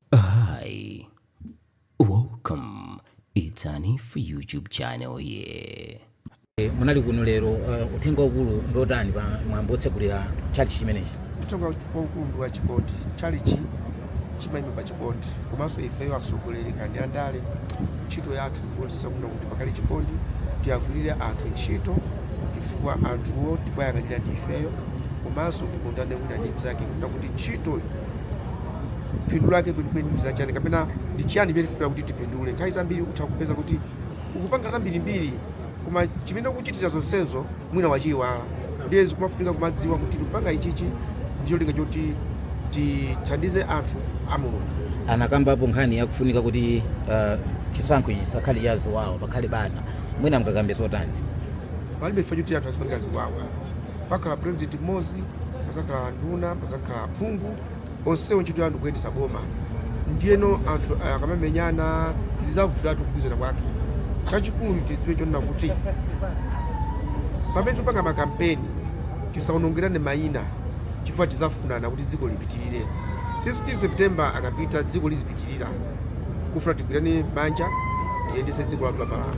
Hi, welcome. It's Hanif YouTube channel here. Eh, munali kuno lero uh, uthenga waukulu ndotani pa mwambo otsegulira chalichi chimenechi uthenga waukulu ndi wa chikondi chalichi chimayima pa chikondi komanso ifeyo atsogoleri kandi andale ntchito yathu ndikuonetsetsa kuno kuti pakhale chikondi tiwagwirire anthu ntchito chifukwa anthuwo tikuwayang'anira ndi ifeyo komanso tikondane wina ndi mnzake kuti ntchitoyo phindu lake kwenikweni ndi lachiyani kapena ndi chiyani chimene tifuna kuti tipindule nthawi zambiri utha kupeza kuti ukupanga zambirimbiri koma chimene ukuchitira zonsezo mwina wachiyiwala ndiye zikumafunika kumadziwa kuti tikupanga ichichi ndi cholinga choti tithandize anthu a mulungu anakambapo nkhani yakufunika kuti uh, chisankho ichi chisakhale cha ziwawa pakhale bata mwina mungakambe zotani palibe chifukwa choti anthu azipangira ziwawa Pakhala president mmodzi, padzakhala anduna, padzakhala aphungu, onsewo ntchito yao ndikuyendetsa boma. Ndiyeno anthu akamamenyana zizavutatu kugwirizana kwake. Chachikulu tidziwe chonena kuti pamene tipanga makampeni tisaonongerane maina chifukwa tizafunana kuti dziko lipitirire. 16 September akapita dziko lizipitirira, kufuna tigwirane manja tiyendetse dziko lathu la Malawi.